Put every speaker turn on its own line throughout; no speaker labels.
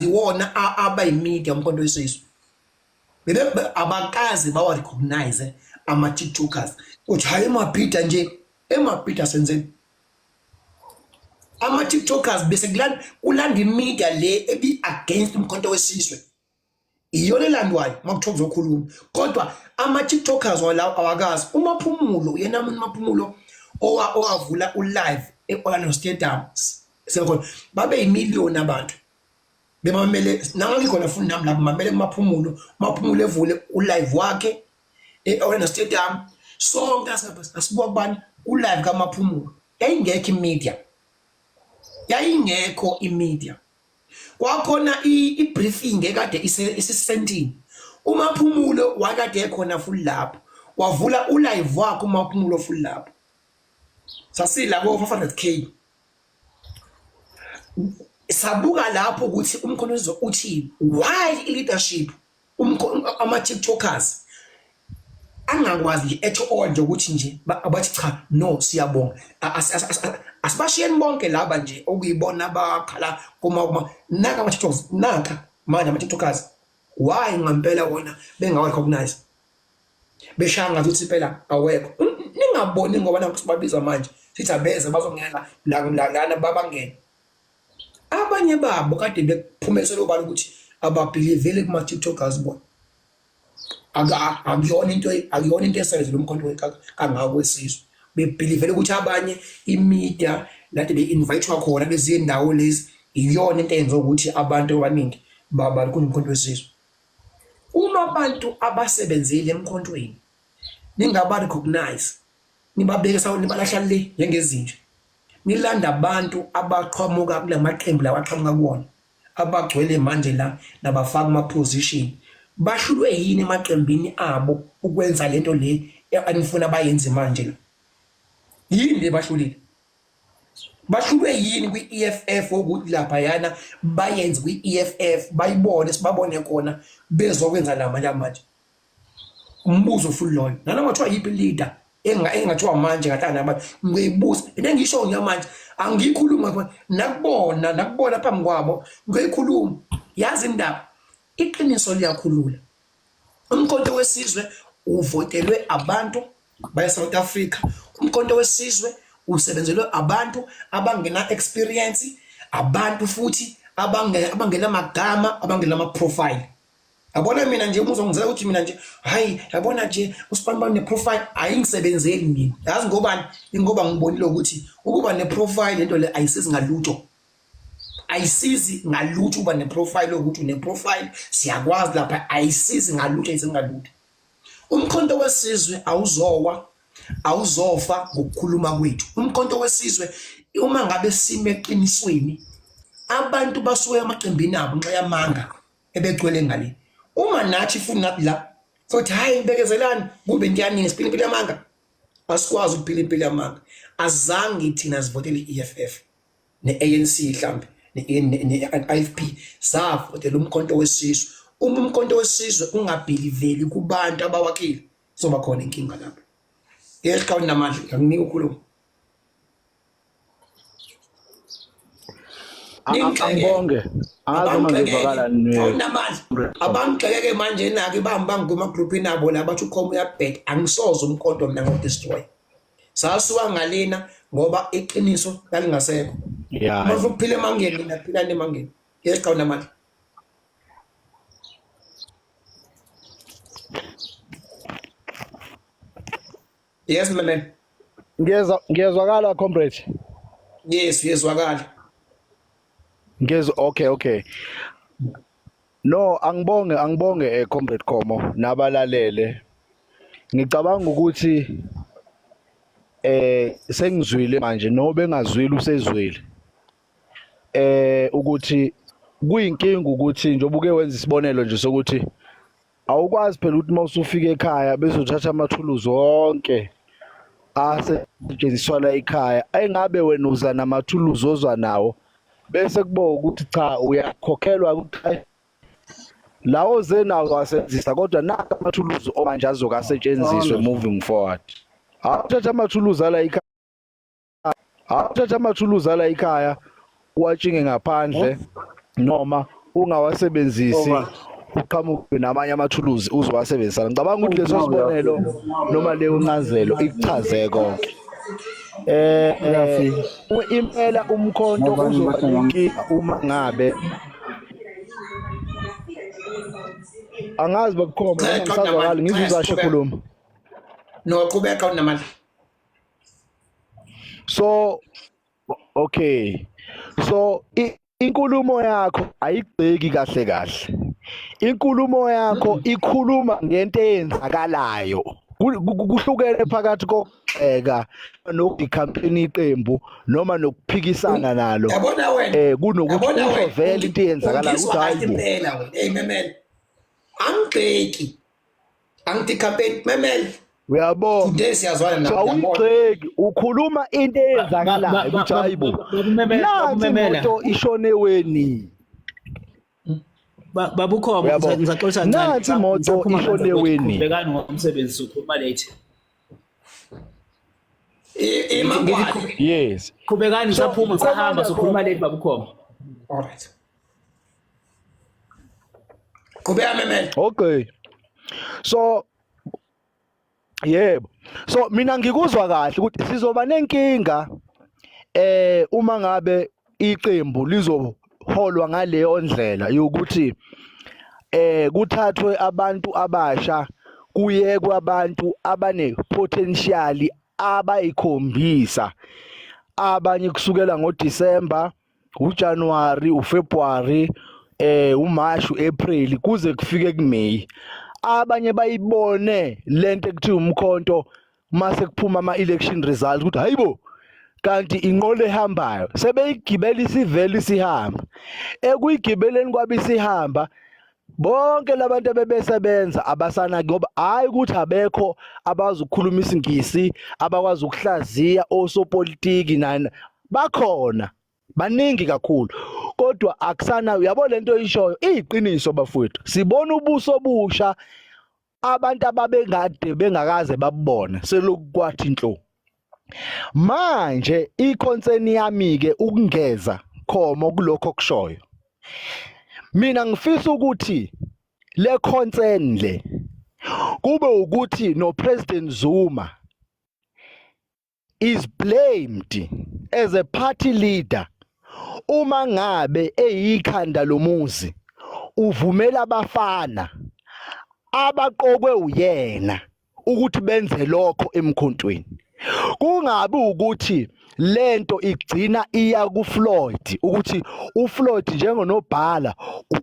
iwona aba imedia umkhonto wesizwe bebe abakazi bawa recognize ama tiktokers ukuthi hayi emabhida nje emabhida senzeni ama tiktokers bese kulanda imedia le ebi against umkhonto wesizwe iyona elandwayo uma kuthiwa kuzokhuluma kodwa ama-tiktokers walawo awakazi umaphumulo yena muntu maphumulo owavula ulive e-orlando stadium sekhona babe yimiliyoni abantu bemamele nangangikhona fundi nami lapho mamele kumaphumulo umaphumulo evule ulive wakhe e-orlando stadium sonke asibuka kubani ulive kamaphumulo yayingekho imedia yayingekho imedia kwakhona i-briefing ekade isisentini umaphumulo wakade ekhona futhi lapho wavula ulive wakhe umaphumulo futhi lapho sasila ko-500k sabuka lapho ukuthi umkhonto uthini why i-leadership Umkhono ama TikTokers angakwazi at all nje ukuthi nje abathi cha no siyabonga asibashiyeni bonke laba nje okuyibona abakhala kuma kuma naka ama TikTokers naka manje ama TikTokers why ngampela wona bengawa recognize beshaya ngathi uthi phela awekho ningaboni ngoba nakuthi babiza manje sithi abeze bazongena la lana babangene abanye babo kade bekuphumelisela obala ukuthi ababhiliveli kuma-tiktokers bona akuyona into akuyona into esayize lo mkhonto kangako wesizwe bebhilivele ukuthi abanye imedia lade be-invayithwa khona beziyendawo lezi iyona into eyenza ukuthi abantu abaningi babali kunomkhonto wesizwe uma abantu abasebenzile emkhontweni ningaba recognize nibabeke sawo nibalahla le njengezinja Ngilanda abantu abaqhamuka kula maqembu lawa aqhamuka kuwona abagcwele manje la nabafaka ama-position bahlulwe yini emaqembini abo ukwenza lento le anifuna bayenze manje la yini le bahlulile bahlulwe yini kwi-EFF ukuthi lapha yana bayenze kwi-EFF bayibone sibabone khona bezokwenza la manje manje umbuzo futhi lona nana ngathiwa yiphi leader engathiwa manje ngatana abantu ngiyibuza into engisho ngiya manje angiyikhuluma khona nakubona nakubona phambi kwabo ngiyikhuluma yazi indaba iqiniso liyakhulula umkhonto wesizwe uvotelwe abantu baya South Africa umkhonto wesizwe usebenzelwe abantu abangena experience abantu futhi abangena abangena magama abangena ama profile Yabona mina nje umuzwa ngizela ukuthi mina nje hayi yabona nje usibani bani neprofile ayingisebenzeli mina. Yazi ngobani? Ingoba ngibonile ukuthi ukuba neprofile lento le ayisizi ngalutho. Ayisizi ngalutho uba neprofile ukuthi uneprofile siyakwazi lapha ayisizi ngalutho ayisizi ngalutho. Umkhonto wesizwe awuzowa awuzofa ngokukhuluma kwethu. Umkhonto wesizwe uma ngabe sime eqinisweni abantu basuke emaqembini abo nxa yamanga ebegcwele ngale uma nathi futhi nathi la sothi hayi bekezelani kube into yaningi siphila impilo yamanga asikwazi ukuphila impilo yamanga azange thina sivotele i-EFF ne-ANC mhlambe ne-IFP savotela umkhonto wesizwe uma umkhonto wesizwe ungabhiliveli kubantu abawakile soba khona inkinga lapho yehla unamandla ngiyakunika ukhuluma
angibonge
abangixekeke manje nake bangibangigwema group inabo la bathi ukhoma uyabhek angisoze umkhonto mina ngodestroy sasuka ngalena ngoba iqiniso lalingasekho uma ufuna ukuphila emangeni mina phila nemangeni yeqawuna mali Yes mlaleli. Ngiyezwa
ngiyezwakala comrade. Yes
uyezwakala. Ngiyezwa
okay okay. No angibonge angibonge eh comrade Khomo nabalalele. Ngicabanga ukuthi eh sengizwile manje no bengazwile usezwile. Eh ukuthi kuyinkinga ukuthi njengoba uke wenza isibonelo nje sokuthi awukwazi phela ukuthi uma usufika ekhaya bese uthatha amathuluzi onke asetshenziswa la ekhaya engabe wena uza namathuluzi ozwa nawo bese kubo ukuthi cha uyakhokhelwa ukuthi lawo zenawo asebenzisa kodwa naka amathuluzi omanje azokasetshenziswe moving forward awuthatha amathuluzi ala ekhaya awuthatha amathuluzi ala ikhaya uwatshinge ngaphandle noma ungawasebenzisi uqhamuke namanye amathuluzi uzowasebenzisa ngicabanga ukuthi leso sibonelo noma leyo ncazelo ikuchaze konke eh, eh impela umkhonto uzoba inkinga uma ngabe angazi bakukhomba ngisazwakala ngizizashe khuluma
noqhubeka unamandla
so okay so inkulumo yakho ayigceki kahle kahle inkulumo yakho ikhuluma ngento eyenzakalayo kuhlukene phakathi kokugxeka nokucampaign iqembu noma nokuphikisana nalo eh
kunokuthi uzovela
into eyenzakala ukuthi hayi impela wena hey memela
angigxeki Angitikapeti memel. Uyabo. Today
siyazwana
nawe. Awugxeki
ukhuluma into eyenzakalayo ukuthi hayibo. Nansi imoto ishone weni.
Babukhoma ngizaxoxa ncane. Nansi imoto
ishone weni. Bekani ngomsebenzi
ukhuluma late.
Yes. Qhubekani saphuma
sahamba sokhuluma late babukhoma. All
right. qhubeka memela okay
so yebo so mina ngikuzwa kahle ukuthi sizoba nenkinga eh uma ngabe iqembu lizoholwa ngaleyo ndlela yokuthi eh kuthathwe abantu abasha kuyekwe abantu abane potential abayikhombisa abanye kusukela ngoDecember uJanuary uFebruary eh uMarch uApril kuze kufike kuMay abanye bayibone lento ekuthiwa umkhonto mase kuphuma ama election results ukuthi hayibo kanti inqola ehambayo sebeyigibela isivele isihamba ekuyigibeleni kwabe isihamba bonke labantu abebesebenza abasana ngoba hayi ukuthi abekho abazi ukukhuluma isingisi abakwazi ukuhlaziya osopolitiki nani bakhona baningi kakhulu kodwa akusana uyabo lento oyishoyo iyiqiniso bafowethu sibona ubuso obusha abantu ababengade bengakaze babone selokwathi inhlo manje iconcern yami ke ukungeza khomo kulokho kushoyo mina ngifisa ukuthi le concern le kube ukuthi no president Zuma is blamed as a party leader uma ngabe eyikhanda lomuzi uvumela abafana abaqokwe uyena ukuthi benze lokho emkhontweni kungabi ukuthi lento igcina iya kuFloyd ukuthi uFloyd njengonobhala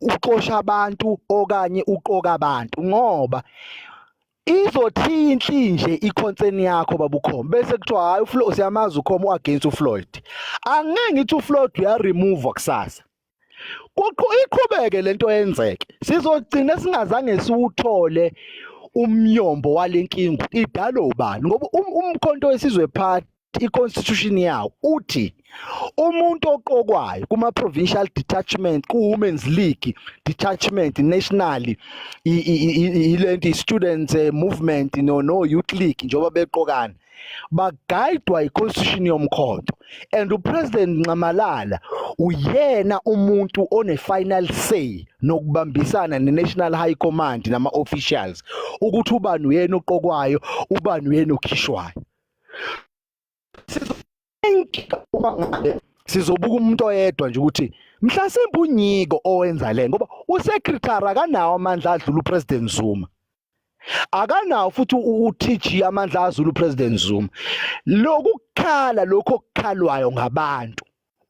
uxosha abantu okanye uqoka abantu ngoba izothinhle nje iconcern yakho babukhoma bese kuthiwa hayi uFloyd siyamazi ukhoma uagainst uFloyd angeke ngithi uFloyd uya remove kusasa kuqhu iqhubeke lento yenzeke sizogcina singazange siwuthole umnyombo walenkingu idalo ubani ngoba um, umkhonto wesizwe party i-constitution yawo uthi umuntu oqokwayo kuma-provincial detachment ku-women's league detachment nationally ilento i-students eh, movement no-youth league njengoba beqokana bagayidwa i-constitution yomkhonto and upresident nxamalala uyena umuntu one-final say nokubambisana ne-national high command nama-officials ukuthi ubani uyena oqokwayo ubani uyena okhishwayo sizobuka umuntu oyedwa nje ukuthi mhlasimbe unyiko owenza le ngoba usecretary akanawo amandla adlula upresident Zuma akanawo futhi uTG amandla azula upresident Zuma lokukhala lokho okukhalwayo ngabantu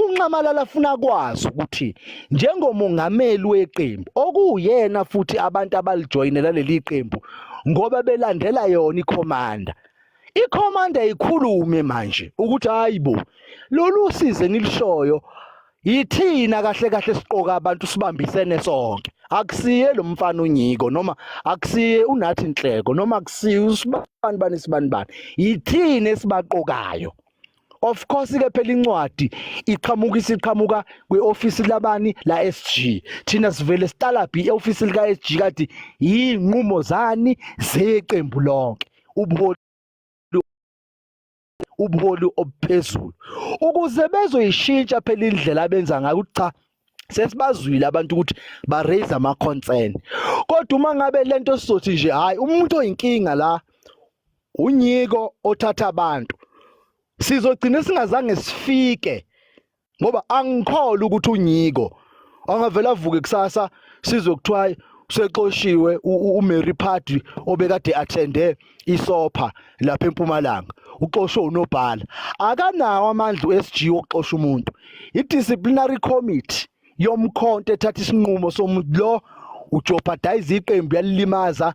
UNxamalala afuna kwazi ukuthi njengomongameli weqembu okuyena futhi abantu abalijoyinela leli qembu ngoba belandela yona ikhomanda ikhomanda ikhulume manje ukuthi hayibo lolu size engilishoyo yithina kahle kahle siqoka abantu sibambisene sonke akusiye lo mfana unyiko noma akusiye unathi inhleko noma akusiye usibani bani sibani bani yithina esibaqokayo of course ke phela incwadi iqhamuka isiqhamuka kweoffice labani la SG thina sivele sitalabhi eoffice lika SG kade yinqumo zani zeqembu lonke ubuholi ubuholi obuphezulu ukuze bezoyishintsha phela indlela abenza ngayo cha sesibazwile abantu ukuthi ba raise ama concern kodwa uma ngabe lento sizothi nje hayi umuntu oyinkinga la unyiko othatha abantu sizogcina singazange sifike ngoba angikholwa ukuthi unyiko angavela avuke kusasa sizokuthiwa sexoshiwe uMary Party obekade attende isopha lapha empumalanga uxoshwe unobhala akanawo amandla uSG okuxosha umuntu idisciplinary committee yomkhonto ethatha isinqumo somuntu lo ujeopardize iqembu yalilimaza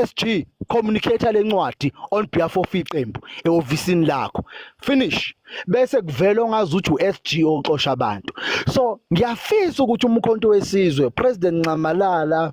SG communicate lencwadi on behalf of iqembu ehofisini lakho finish bese kuvela ongazi ukuthi uSG oxosha abantu so ngiyafisa ukuthi umkhonto wesizwe president Nxamalala